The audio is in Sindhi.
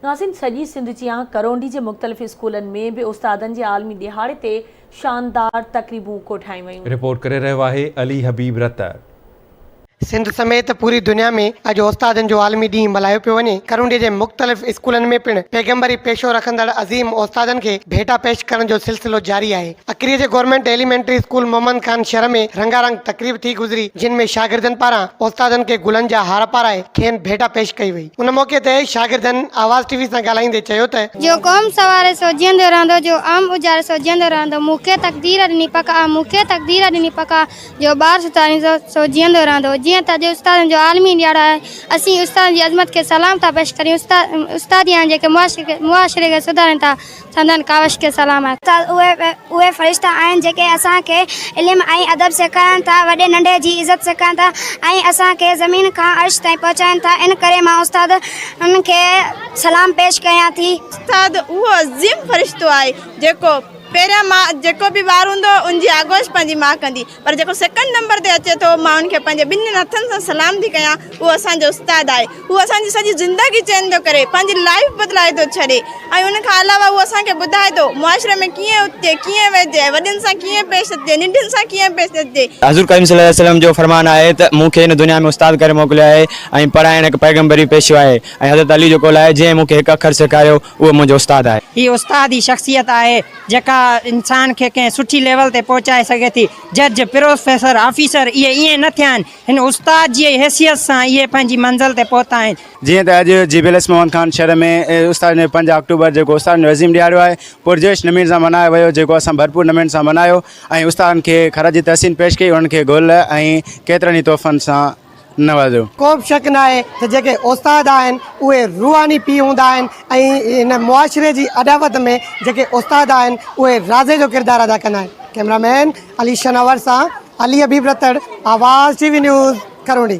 ناظرين سڄي سنڌ جيان ڪرونڊي جي مختلف اسڪولن ۾ به استادن جي عالمي ڏهاڙي تي شاندار تقريبون ڪوٺايون ويون. رپورٽ ڪري رهيو آهي علي حبيب رتر. سنڌ سميت پوري دنيا ۾ اڄ استادن جو عالمي ڏينهن ملهايو پيو وڃي، ڪرونڊي جي مختلف اسڪولن ۾ پڻ پيغمبري پيشو رکندڙ عظيم استادن کي ڀيٽا پيش ڪرڻ جو سلسلو جاري آهي. اکري جي government elementary school Muhammad Khan شھر ۾ رنگا رنگ تقريب ٿي گذري جنھن ۾ شاگردن پاران استادن کي گلن جا ھار پارائي کين ڀيٽا پيش ڪئي وئي ان موقعي تي شاگردن آواز ٽي وي سان ڳالھائيندي چيو ته. جو قوم سواري سوجهيندو رهندو جو عام اجاڙي سوجهيندو رهندو مون کي تقدير ڏني پڪ آ مون کي تقدير ڏني پڪ آ جو ٻار ستارين سو سوجهيندو رهندو جيئن ته اڄ استادن جو عالمي ڏيھاڙو آهي اسين استادن جي عظمت کي سلام ٿا پيش ڪريون استاد استاد ئي آهن جيڪي معاشري کي معاشري کي سڌارين ٿا سندن ڪاوش کي سلام آهي. استاد اهي فرشتا آهن جيڪي اسان کي علم ۽ ادب سيکارن ٿا، وڏي ننڍي جي عزت سيکارن ٿا ۽ اسان کي زمين کان عرش تائين پهچائن ٿا ان ڪري مان استادن کي سلام پيش ڪيان ٿي. استاد اهو عظيم فرشتو آهي جيڪو پهريان ماء جيڪو به ٻار هوندو ان جي آغوش پنهنجي ماء ڪندي پر جيڪو سيڪنڊ نمبر تي اچي ٿو مان ان کي پنهنجي ٻنهين هٿن سان سلام ٿي ڪيان اهو اسان جو استاد آهي هو اسان جي سڄي زندگي چينج ٿو ڪري پنهنجي لائيف بدلائي ٿو ڇڏي ۽ ان کان علاوه هو اسان کي ٻڌائي ٿو معاشري ۾ ڪيئن اٿجي ڪيئن ويهجي وڏن سان ڪيئن پيش اچجي ننڍن سان ڪيئن پيش اچجي. حضور ڪريم صلي الله عليه وسلم جو فرمان آهي ته مون کي هن دنيا ۾ استاد ڪري موڪليو آهي ۽ پڙهائڻ هڪ پيغمبري پيشو آهي ۽ حضرت علي جو قول آهي جنهن مون کي هڪ اکر سيکاريو اهو منهنجو استاد آهي. هي استاد ئي شخصيت آهي جيڪا انسان کي ڪنهن سٺي ليول تي پهچائي سگهي ٿي. جج، پروفيسر، آفيسر اهي ائين نه ٿيا آهن. هن استاد جي ئي حيثيت سان اهي پنهنجي منزل تي پهتا آهن. جيئن ته اڄ جي B L S Mohan Khan شھر ۾ استادن جو پنج آڪٽوبر جيڪو استادن جو عظيم ڏھاڙو آھي پرجوش نميڻ سان ملھايو ويو جيڪو اسان ڀرپور نميڻ سان ملھايو ۽ استادن کي خراج تحسين پيش ڪئي انھن کي گل ۽ ڪيترن ئي تحفن سان نوازيو. ڪوبه شڪ ناهي ته جيڪي استاد آهن اهي روحاني پيء هوندا آهن ۽ هن معاشري جي اڏاوت ۾ جيڪي استاد آهن اهي رازي جو ڪردار ادا ڪندا آهن. ڪئميرا مين علي شناور سان علي حبيب رتڙ، آواز ٽي وي نيوز، ڪروڙي.